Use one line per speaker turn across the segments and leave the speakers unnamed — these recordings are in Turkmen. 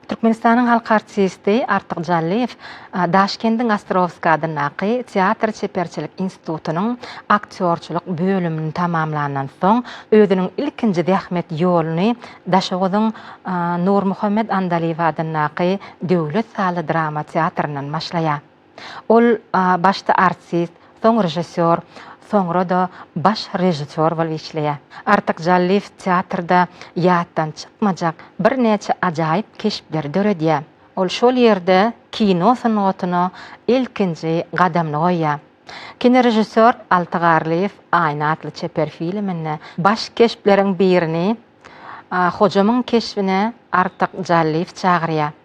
Türkmenistanyň halk artisti Artyk Jallyýew Daşkendiň Ostrowskiý adyndaky Teatr çeperçilik institutynyň aktýorçylyk bölümini tamamlandan soň, özüniň ilkinji zähmet ýoluny Daşoguzyň Nurmuhammet Andalyýew adyndaky döwlet sazly drama teatryndan başlaýar. Ol başda artist, soň režissýor, soňra-da baş režissýor bolup işleýär. Artyk Jallyýew teatrda ýatdan çykmajak birnäçe ajaýyp keşpleri döredýär. Ol şol ýerde kino sungatyna ilkinji gadamyny goýýar. Kinorežissýor Alty Garlyýew Aýna atly çeper filminde baş keşpleriň birini Hojamyň keşbine Artyk Jallyýew çagyrýar.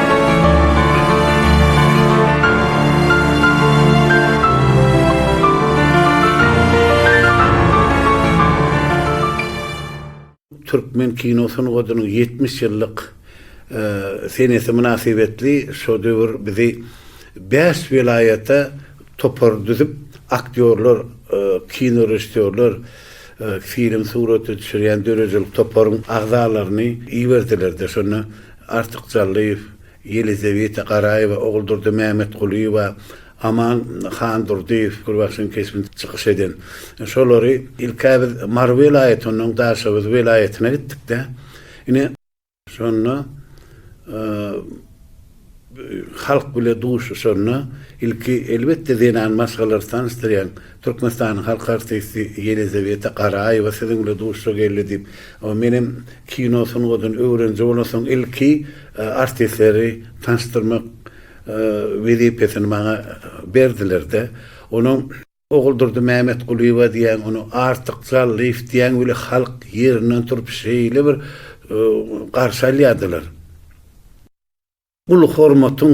Türkmen kino sungatynyň ýetmiş ýyllyk senesi mynasybetli şo döwür bizi bäş welaýata topar düzüp, aktýorlar, kinorežissýorlar, film surata düşürýän döredijilik toparyň agzalaryny iberdiler-de, şonda Artyk Jallyýew, Ýelizeweta Garaýewa, Oguldyr-dy Mämmetgulyýewa, Aman Handurdyýew, Gürbaşyň keşbinde çykyş eden şolary, ilk-ä biz Mary welaýaty, onnoň Daşoguz welaýatyna gitdik-de, ine, şonda halk bile duşuşanda ilki, elbetde, zenan maşgalalary tanyşdyrýaň, Türkmenistanyň halk artisti Ýelizaweta Garaýewa siziň bilen duşuşa geldi diýip, menem kino sungatyny öwreniji bolansoň ilki artistleri tanyşdyrmak wezipesini maňa berdiler-de, onuň. Oguldury Mämetgulyýewa diýýän ony Artyk Jallyýew diýýän weli halk ýerinden turup şeýle bir garşy alýardylar. Uly hormatyň,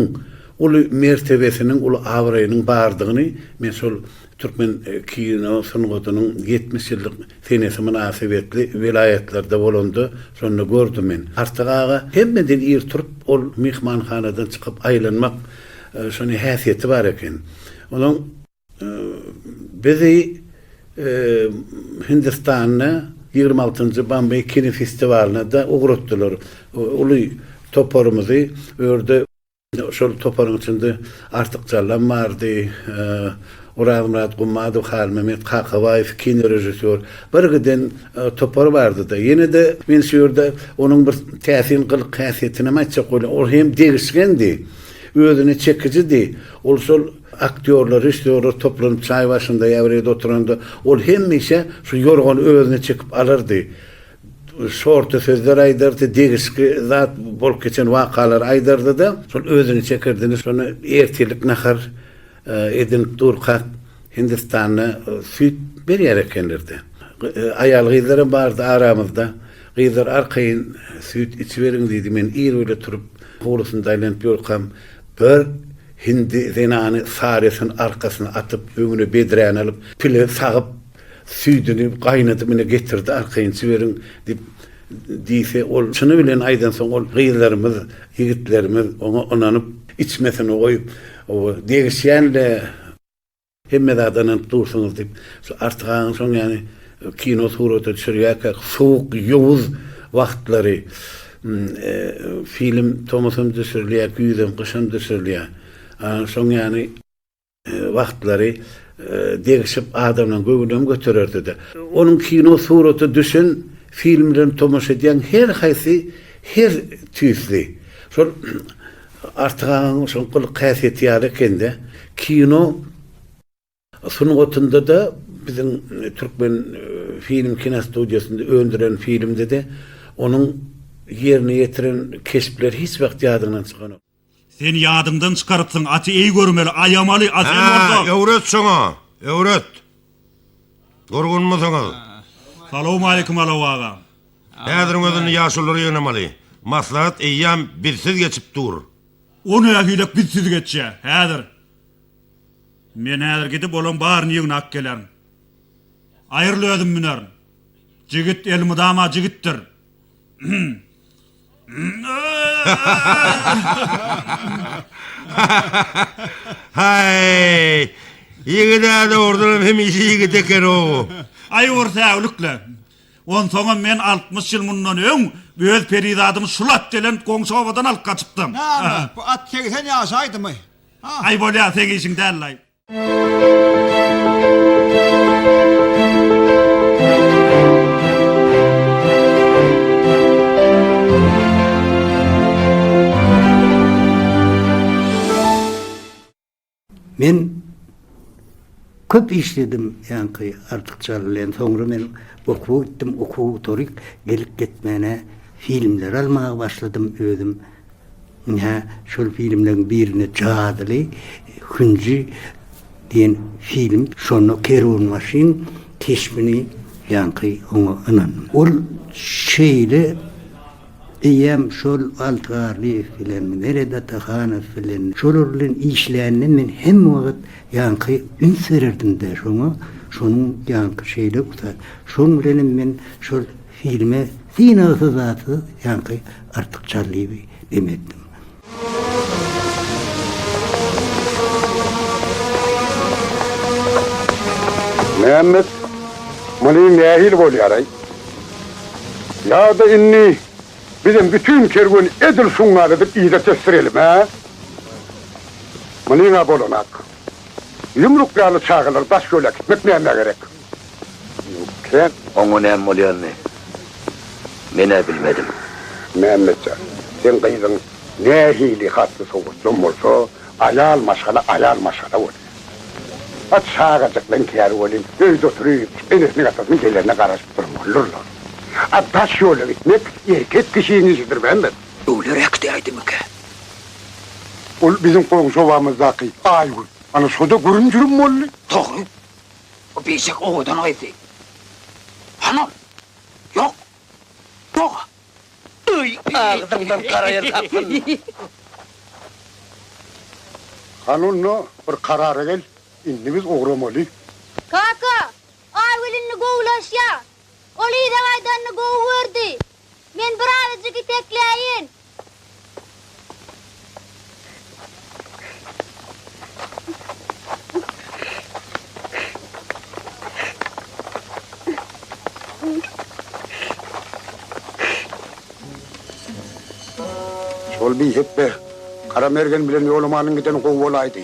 uly mertebesiniň, uly abraýynyň bardygyny men şol türkmen kino sungatynyň ýetmiş ýyllyk senesi mynasybetli welaýatlarda bolanda şonda gördüm men. Artyk aga hemmeden ir turup, ol myhmanhanadan çykyp aýlanmak şonda häsiýeti bar eken. Onuň. Bizi Hindistanda ýigrimi altynjy Bombey kinofestiwalyna-da ugratdylar. Uly toparymyzy bu ýerde şol toparyň içinde Artyk Jallam bardy, Orazmyrat Gummadow, Halmymet Kakabaýew, kinorežissýor. Birgiden topar bardy-da. Ýene-de men şu ýerde onuň bir täsin gylyk-häsiýetinem aýtjak bolýan. Ol hem degişgendi. Özüne çekijidi. Ol şol Aktýorlar, režissýorlar toplanyp çaý başynda ýa bir ýerde oturanda, ol hemişe şu ýorgany özüne çekip alardy. Şorta sözler aýdardy, degişgi zat bolup geçen wakalary aýdardy-da, şol özüne çekerdi. Şonda ertirlik nahar edinip durkak, Hindistanda süýt berýär ekenler-de. Aýal-gyzlaram bardy aramyzda. Gyzlar arkaýyn süýt içiberiň diýdi. Men ir bile turup, howlusynda aýlanyp ýörkam, bir Hindi zenany sarysyny arkasyna atyp, öňüne bedräni alyp, pile sagyp, süýdüni gaýnadyp, ine, getirdi, arkaýynçy beriň, diýip, diýse, ol çyny bilen aýdansoň, ol gyzlarymyz, ýigitlerimiz oňa ynanyp, içmesini goýup, degişýän-le. Hemme zada ynanyp dursuňyz diýip, şu Artyk agaň soň ýany kino surata düşürýärkä sowuk, ýowuz wagtlary film tomusam düşürilýär, güýzem, gyşam düşürilýär. Ana şoň ýany wagtlary degişip adamlaryň göwnünem götererdi-de. Onuň kino surata düşen filmlerine tomaşa edýäň her haýsy her tüýsli. Şol Artyk agaň şol gylyk häsiýeti ýaly ekende. Kino sungatynda-da biziň Türkmen film kinostudiýasynda öndüren filmde-de onuň ýerine ýetiren keşpleri hiç wagt ýadyňdan çykanok. Sen ýadyňdan
çykarypsyň, aty eý görmeli, aýamaly, a sen bolsa. Hä, öwret şoňa,
öwret. Durgunmysyňyz? Salowmaleýkim
Alaw aga. Häziriň
özünde ýaşulular ýygnamaly. Maslahat eýýäm bizsiz geçip dur. O
nähilek bizsiz geçýä? Häzir. Men häzir gidip olaň baryny ýygnap gelerin. Aýryl özüm münerin. Jigit elmydama jigitdir.
Haý! Ýigid-ä dogrudanam hemişe ýigit eken-ow. Aý bir
säwlikle. Onsoňam men altmyş ýyl mundan öň öz perizadymy şul at gelen goňşy obadan alyp gaçypdym. Näme, bu at
segsen ýaşaýdymy? Aý bolýa, segishiň
däl-laý.
Men köp işledim ýaňky artykça bilen soňra men okuwa gitdim okuwa gutarýk gelip gitmäne filmler almaga başladym özüm Ine, şol filmleriň birinde Jadyly hünji diýen film. Şonda kerwenbaşyň keşbini ýaňky oňa ynandym. Ol şeýle eýýäm şol Alty Garlyýew bilen, Meret Atahanow bilen, şolar bilen işlände men hemme wagt ýaňky üns bererdim-de şoňa, şonuň ýaňky şeýle ussat. Şoň bilenem men şol. Filme synagsyz-zatsyz ýaňky artykçalygy bim etdim.
Mämmet, muny nähili bolýaraý? Ýa-da indi bizem bütin kerwen edil şuňňal edip yza tesdirelim-ä? Munyň-a bolanak. Ýumruk ýaly çagalar daş ýol äkitmek nämä gerek? Kiräk, oňa näme
bolýanyny men-ä bilmedim. Mämmetjan,
seň gyzyň nähili hatly sowatlam bolsa, aýal maşgala aýal maşgala bolýar. Hat şagajyklaň käri welin, öýde oturyp, enesiniň-atasynyň gelenine garaşyp durmalydyrlar. A daş ýola gitmek erkek kişiniň işidir, Mämmet. Öwler äkidiäýdimikä? Ol biziň goňşy obamyzdaky Aýgül. Ana, şo-da gürüm-jürüm boldy. Dogry.
Bu bişek owadan gyzdy. Hanam? Ýok. Doga. Öý, agzyňdan garaýar tapyn.
Hany onda bir karara gel, indi biz ugramaly. Kaka,
Aýgül indi gowulaşýar. Ol yza gaýdanyny gowy gördi. Men bir awajyk itekleýin.
Şol biýhekde Garamergen bilen Ýolamanyň gideni gowy bolaýdy.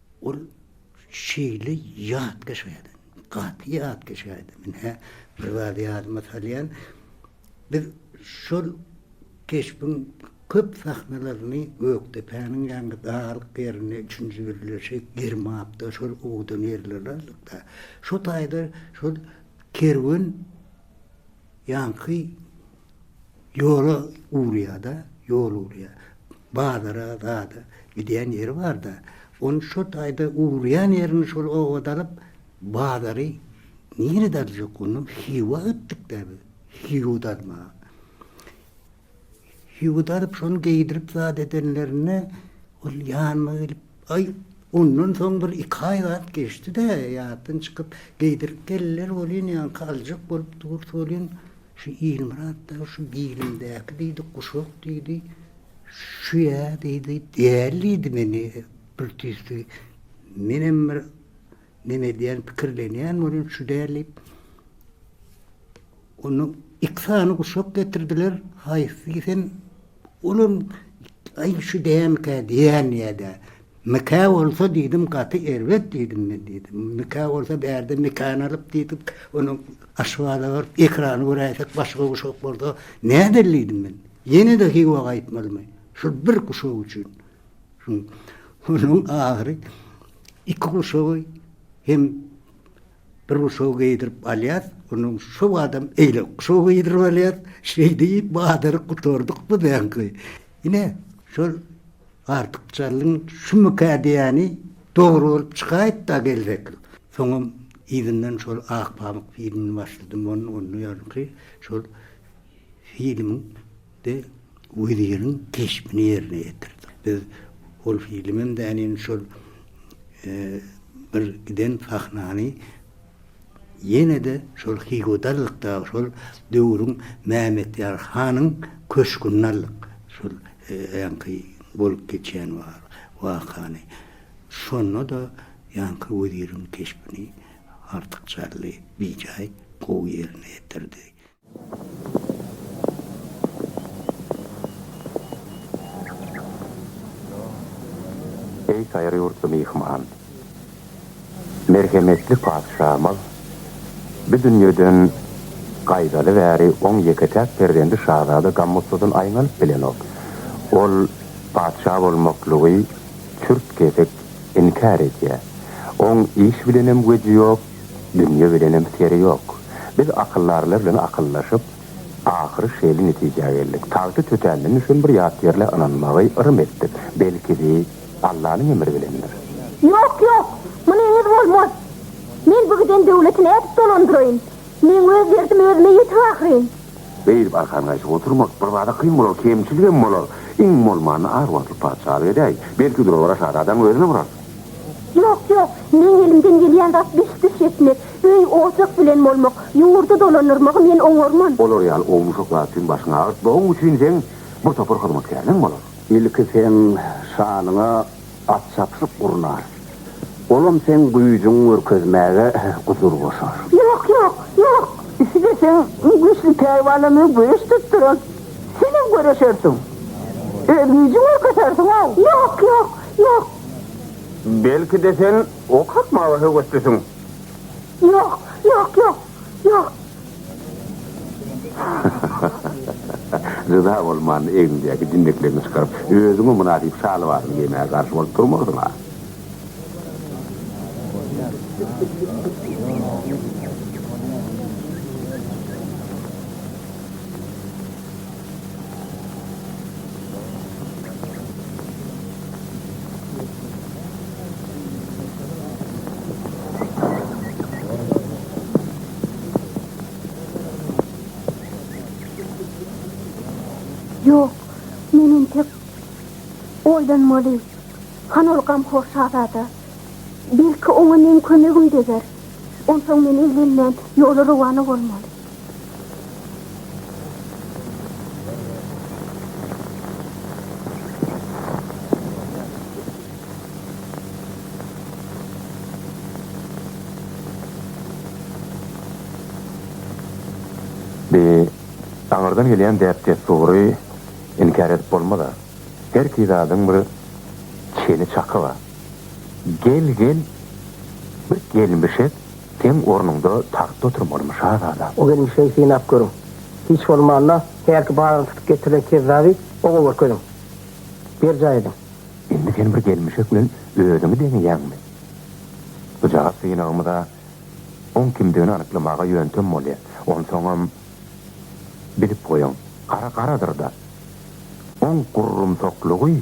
Ol şeýle ýat geçýärdi, gaty ýat geçýärdi. Men hä bir zady ýadyma salýan, biz şol keşbiň köp sahnalaryny Gökdepäniň ýaňky daglyk ýerinde üçünji birleşik, Girmapda şol owdan ýerleri aldyk-da. Şo taýda şol kerwen. Ýaňky ýola ugrýar-da, ýol ugrýar. Bazara, zada gidýän ýeri bar-da, ony şo taýda ugrýan ýerini şol obada alyp, bazary nirede aljak? Onda Hywa gitdik-dä biz, Hywa-da almaga. Ýigit alyp şony geýdirip zat edenlerinde ol ýanyma gelip, Aý, ondan soň bir iki aý zat geçdi-de, ýatdan çykyp, geýdirip geldiler welin, ýaňky aljak bolup dur welin, şu Ilmyrat dagy şu bilimdäki diýdi, guşak diýdi, şu-ýa diýdi, däl diýdi meni bir tüýsügi. Menem bir. Men edýän pikirlenýän welin şu däl diýip. Onda iki sany guşak getirdiler. Haýsy isen olam aý şu dämikä diýen ýa-da mikä bolsa diýdim gaty erbet diýdim men diýdim. Mikä bolsa bärde mikany alyp diýdik. Ony aşgaza baryp ekrany göräýsek başga guşak bolsa nädel diýdim men. Ýene-de Hywa gaýtmalymy? Şul bir guşak üçin. Onuň ahyry iki guşagy hem bir guşaga geýdirip alýas, onuň şo badam eýle guşagy geýdirip alýas, şeýdip bazaryk gutardyk biziňki. Ine, şol artykçalygyň şumukä diýýäni dogry bolup çykaýypd-a geljekil. Soňam yzyndan şol Ak pamyk filmini başladym, onda ýaňky şol filmiň Bi weziriň keşbini ýerine ýetirdik. Biz ol filmem dälin, şol bir giden sahnany ýene-de şol Hygoda aldyk, dagy şol döwrüň Mämmetýar hanyň köşgünde aldyk, şol ýaňky bolup geçen wakany. Şonda-da ýaňky weziriň keşbini artykçaly, bijaý gowy ýerine ýetirdi.
Eý saýry ýurtly myhman! Merhemetli patyşamyz bi dünýeden gaýdaly bäri oň ýeke-täk perzendi şazada Gammusudyn aýňanyp bilenok. Ol patyşa bolmaklygy çürt-kesik inkär edýär. Oň iş bilenem güýji ýok, Dünýe bilenem seri ýok. Biz akyldarlar bilen akyldaşyp, ahyry şeýle netijä geldik. Tagty tötänden düşen bir ýatýerle ynanmagy yrym etdik. Belki-de, Allanyň emri bilendir. Ýok, ýok!
Muny eňiz bolmaz! Men bu giden döwleti nädip dolandyraýyn? Meň öz derdim özüme ýetik ahyryn! Beýdip arkan
gaýşyp oturmak birbada kyn bolar, kemçiligem bolar. Iň bolmanda arwahly patyşalyk edäýiň. Belki durawara şazadaň özüne urarsyň. Ýok,
ýok, meň elimden gelýän zat beş düş etmek, öý-ojak bilen bolmak, ýurdy dolandyrmagy men oňarman. Olar ýaly ownuşak
zat üçin başyňy agyrtmagyň üçin seň bir topar hyzmatkärleň bolar. Ilki seň
şanyňa at çapyşyk gurnar. Olam seň güýjüňi görkezmäge gusur goşar. Ýok, ýok,
ýok! Isleseň,
iň güýçli pälwanlarymyzy göreş tutduran, senem göreşersiň. Öz güýjüňi görkezersiň-ow! Ýok, ýok,
ýok!
Belki-de sen ok atmaga höweslisiň? Ýok,
ýok, ýok, ýok.
Ryza bolman, egniňdäki jinnekleňi çykaryp, özüňe mynasyp şalwaryňy geýmäge garşy bolup durmarsyň-a?
Oýdan Moli, han ol gamhor şazada. Belki oňa meň kömegim deger. Onsoň men eglenmän ýola rowana bolmaly.
Bi aňyrdan gelýän däp-dessury inkär edip bolmaz-a. Herki zadyň bir çeni-çaky bar. Gel-gel bir gelmişek. Seň ornuňda tagtda oturmalymy, şazada? O gelin kişiňi synap
görüň. Hiç bolmanda, hälki baryny tutup getirilen kezzaby oňa görkeziň. Berjaý ediň. Indi sen bir
gelmişek bilen özüňi deňeýäňmi? Bu jogap synagymyz-a oň kimdigini anyklamaga ýöntem bolýa. Onsoňam, bilip goýuň, gara garadyr-da. Oň gurrumsaklygy.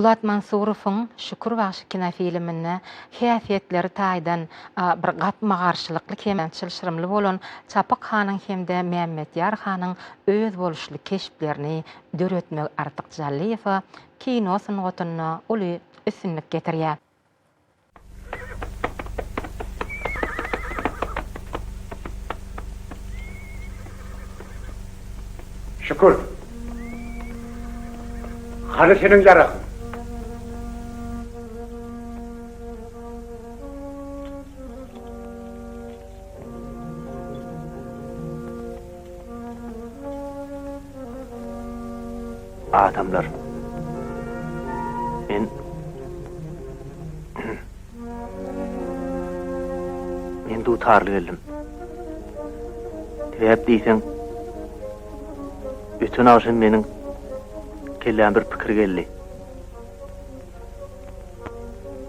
Bulat Mansurowyň Şükür bagşy kinofilminde häsiýetleri taýdan bir gapma-garşylykly hem çylşyrymly bolan Çapyk hanyň hem-de Mämmetýar hanyň özboluşly keşplerini döretmegi Artyk Jallyýewa kino sungatynda uly üstünlik getirýär.
Şükür. Hany seniň ýaragyň?
Adamlar, men Men dutarly geldim. Sebäp diýseň, öten agşam meniň kelläme bir pikir geldi.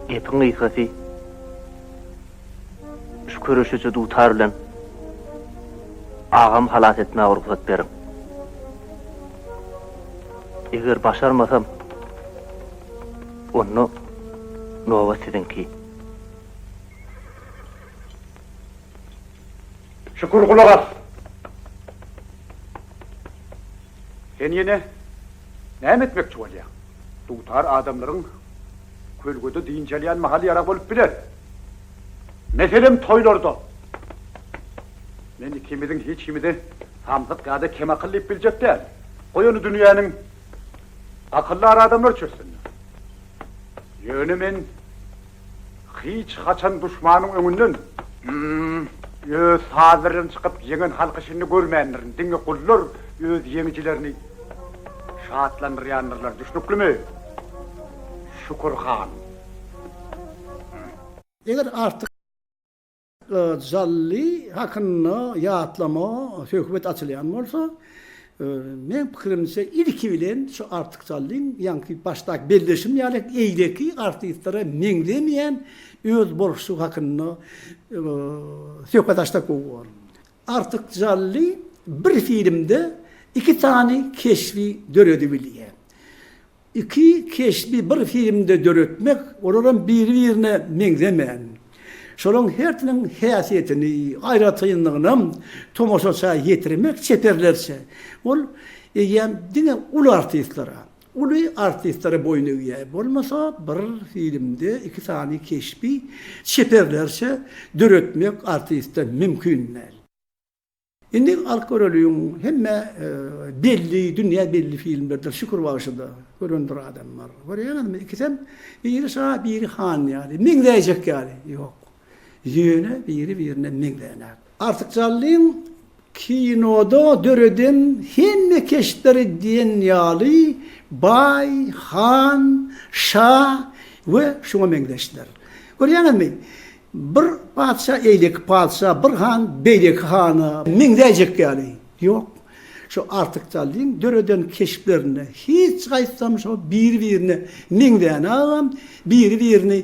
Gepiň gysgasy, Şu köreşiji dutar bilen agamy halas etmäge rugsat beriň. Eger başarmasam, onda nobat siziňki.
Şükür, gulak as. Sen ýene näme etmekçi bolýaň? Dutar adamlaryň Kölgede dynç alýan mahaly ýarag bolup biler. Meselem, toýlarda. Men ikimiziň hiç kimi-de samsyk ýa-da kem akyl diýip biljek däl. Goý ony dünýäniň akyldar adamlary çözsünler. Ýöne men hiç haçan duşmanyň öňünden. Öz sazlaryndan çykyp ýeňen halky şindi görmändirin. Diňe gullar öz ýeňijilerini. Şatlandyrýandyrlar, düşnüklimi, Şükür han?
Eger artyk Jally hakynda ýatlama, söhbet açylýan bolsa, meň pikirimçe, ilki bilen şu Artyk Jallyň ýaňky başdaky belleşim ýaly eýleki artistlere meňzemeýän özboluşlygy hakynda söhbet açsak gowy bolar. Artyk Jally bir filmde iki sany keşbi döredibilýär. Iki keşbi bir filmde döretmek, olaram biri-birine meňzemän. Şolaryň hersiniň häsiýetini, aýratynlygynam tomaşaça ýetirmek çeperlerçe. Ol eýýäm diňe uly artistlara, Uly artistlere boýun egýär. Bolmasa bir filmde iki sany keşbi çeperlerçe döretmek artiste mümkin däl. Indi alyp göreliň hemme belli dünýä belli filmlerdir Şükür bagşyda görendir adamlar. Görýäňizmi ikisem biri şa biri han ýaly meňzäýjek ýaly ýok. Ýöne biri-birine meňzänok. Artykjallyň kinoda döreden hemme keşpleri diýen ýaly Baý, Han, Şa we şuňa meňzeşler. Görýäňizmi? Bir patyşa eýleki patyşa, bir han beýleki hana meňzäýjek ýaly. Ýok. Şu artykjallyň döreden keşplerinde hiç haýsysam şo biri-birine meňzänogam, biri-birini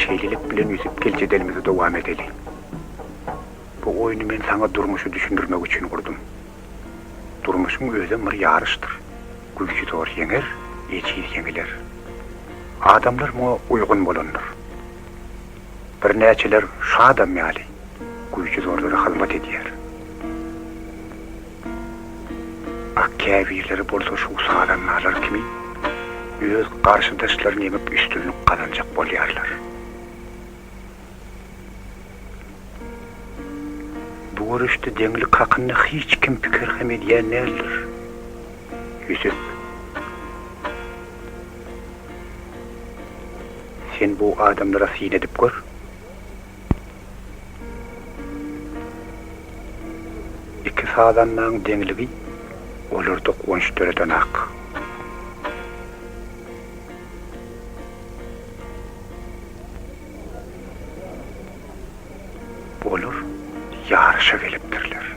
Şeýlelik bilen Ýusup gel jedelimizi dowam edeli. Bu oýny men saňa durmuşy düşündirmek üçin gurdum. Durmuşyň özem bir ýaryşdyr. Güýçitor ýeňer, ejiz ýeňiler. Adamlar muňa uýgun bolandyr. Birnäçeler şu adam ýaly güýçizorlara hyzmat edýär. A käbirleri bolsa şu sazandalar kimi öz garşydaşlaryny ýeňip üstünlik gazanjak bolýarlar. Bu göreşde deňlik hakynda hiç kim pikir hem edýän däldir. Ýüsüp. Sen bu adamlara syn edip gör. Iki sazandaň deňligi olarda guwanç döredenak. Olar ýaryşa gelipdirler.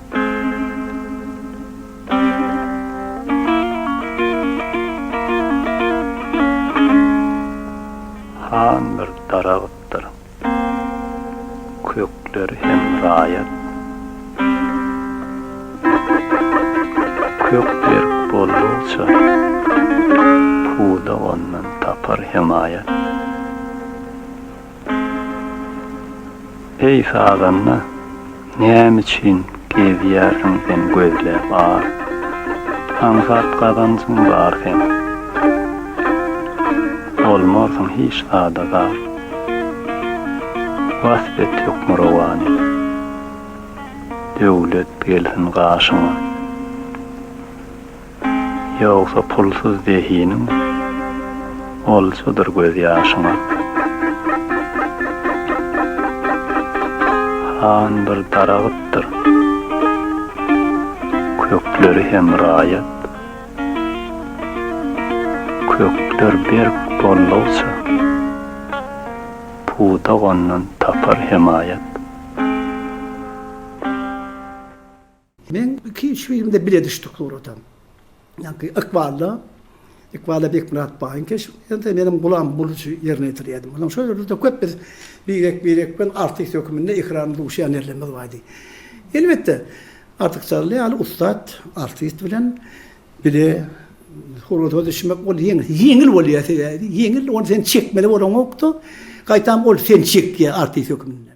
Han bir daragtdyr. Kökler hem raýat. Kök berk boldugyça, puda ondan tapar hemaýat. Eý sazanda, näme üçin gezýärsiň sen gözläp ar? Aňsat gazanjyň bar seň. Bolmarsyň hiç zada zar. Wasp et hökmürowany. Döwlet gelsin gaşyňa. Ýogsa pulsuz zehiniň oljadyr gözýaşyňa. Han bir daragtdyr. Kökleri hem raýat. Kökler berk bollugça, pudak ondan tapar hemaýat.
Men iki-üç filmde bile düşdük suratam. Ýaňky Ykbalda, Ykbalda Bekmyrat baýyň keşbinde meniň Gulam Bulyjy ýerine ýetirýärdim. Onsoň şol ýerde köp biz birek-birek bilen artist höküminde ekran duşýan ýerlerimiz bardy. Elbetde, Artykçagly ýaly ussat artist bilen bile surata düşmek ol ýeňil bolýar sebäbi ýeňil ony sen çekmeli bolanokda, gaýtam ol seni çekýär artist höküminde.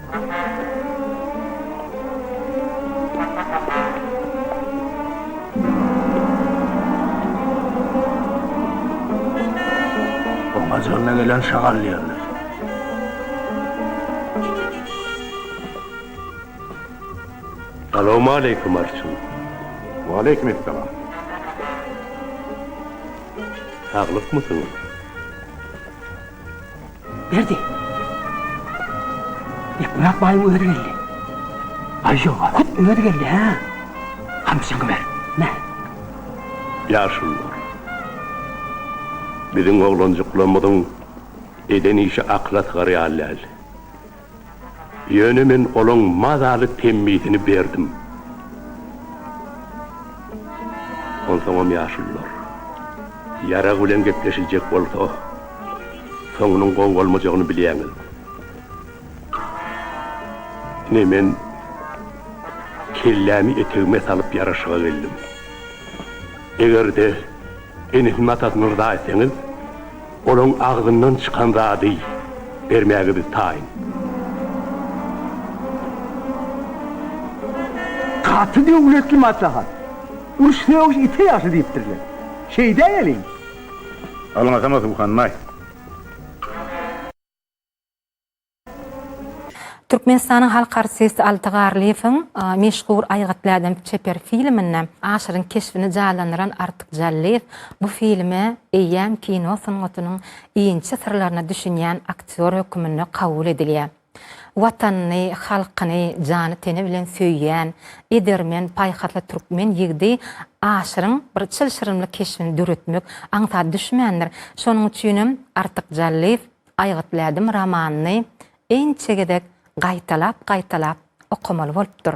Ajagynda gelen şagal ýerler.
Salowmaleýkim Arçyn. Waleýkim
essalam.
Saglykmysyňyz?
Berdi. Bekmyrat baýyň özi geldi. Aýjowa hut özi geldi, hä? Gamçyňy ber. Nä? Ýaşullar.
Biziň oglanjyklarymyzyň eden işi akyla sygar ýaly däl. Ýöne men olaň mazaly temmisini berdim. Onsoňam ýaşulular. Ýarag bilen gepleşiljek bolsa, soňunyň gowy bolmajagyny bilýäňiz. Ine men kellämi etegime salyp ýaraşyga geldim. Eger-de. Enesi Matat myrza etseňiz, olaň agzyndan çykan zady bermäge biz taýyn.
Gaty döwletli maslahat. Uruş sögüş ite ýagşy diýipdirler. Şeýdäýeliň.
Alňasana Suwhanbaý.
Türkmenistanyň halk artisti Alty Garlyýewiň meşhur Aýgytly-ädem çeper filminde Aşyryň keşbini janlandyran Artyk Jallyýew bu filme eýýäm kino sungatynyň inçe syrlaryna düşünýän aktýor höküminde kabul edilýär. Watanyny, halkyny jany-teni bilen söýýän, edermen, paýhasly türkmen ýigidi Aşyryň bir çylşyrymly keşbini döretmek aňsat düşmändir. Şonuň üçinem Artyk Jallyýew Aýgytlädim romanyny ençe gezek gaýtalap-gaýtalap okamaly bolupdyr.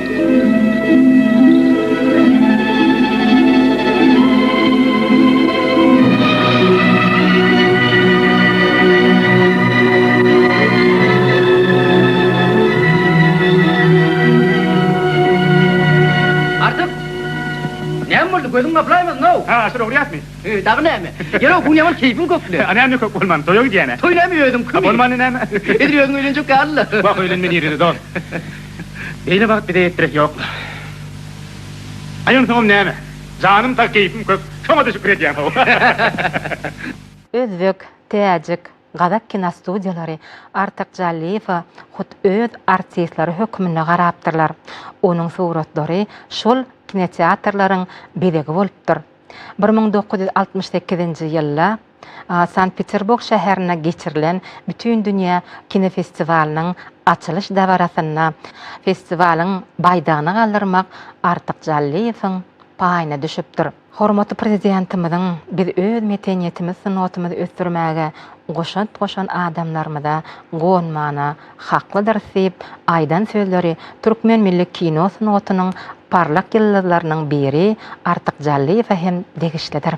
gözüň gaplaýmazyn-ow. Ha, şol ogurýasmy? He, dagy näme? Ýere bu ýaman keýpiň köpli. A näme köp bolman, toýa
gidýän-ä. Toý näme özüňkimi? Bolmany
näme? Edil
özüň öýlenjek ýaly-la.
Wah,
öýlenme nirede, dost.
Beýle
bagt bize ýetdiresi ýoklar. Aýansoňam näme? Janym sag, keýpim kök, şoňa-da şükür edýäm-how.
Özbek, täjik, gazak kinostudiýalary Artyk Jallyýewe hut öz artistleri hökmünde garapdyrlar. Onuň suratlary şol kinoteatrlaryň bezegi bolupdyr. Bir müň dokuz ýüz altmyş sekizinji ýylda Sankt-Peterburg şäherinde geçirilen Bütindünýä kinofestiwalynyň açylyş dabarasynda festiwalyň baýdagyny galdyrmak Artyk Jallyýewiň paýyna düşüpdir. Hormatly Prezidentimiziň biz öz meteniýetimiz sungatymyzy ösdürmäge goşant goşan adamlarymyza guwanmana haklydyrys diýip aýdan sözleri türkmen milli kino sungatynyň parlak ýyldyzlarynyň biri Artyk Jallyýewe hem degişlidir.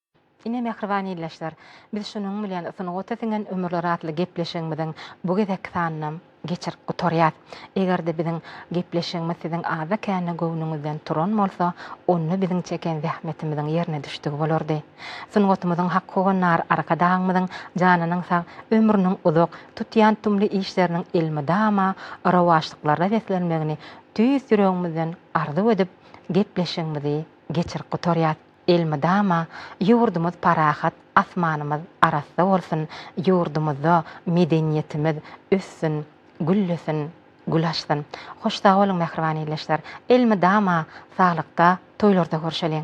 Ine, mähriban ildeşler, biz şunuň bilen Sungata siňen ömürler atly gepleşigimiziň bu gezekki sanynam geçirip gutarýas. Eger-de biziň gepleşigimiz siziň azda-kände göwnüňizden turan bolsa, onda biziň çeken zähmetimiziň ýerine düşdügi bolardy. Sungatymyzyň hak howandary Arkadagymyzyň janynyň sag, ömrüniň uzak, tutýan tumly işleriniň elmydama rowaçlyklarda beslenmegini tüýs ýüregimizden arzuw edip, gepleşigimizi geçirip gutarýas. Elmydama ýurdumyz parahat, asmanymyz arassa bolsun, ýurdumyzda medeniýetimiz össün, güllesin, gül açsyn. Hoş sag boluň mähriban ildeşler. Elmydama saglykda, toýlarda görşeliň.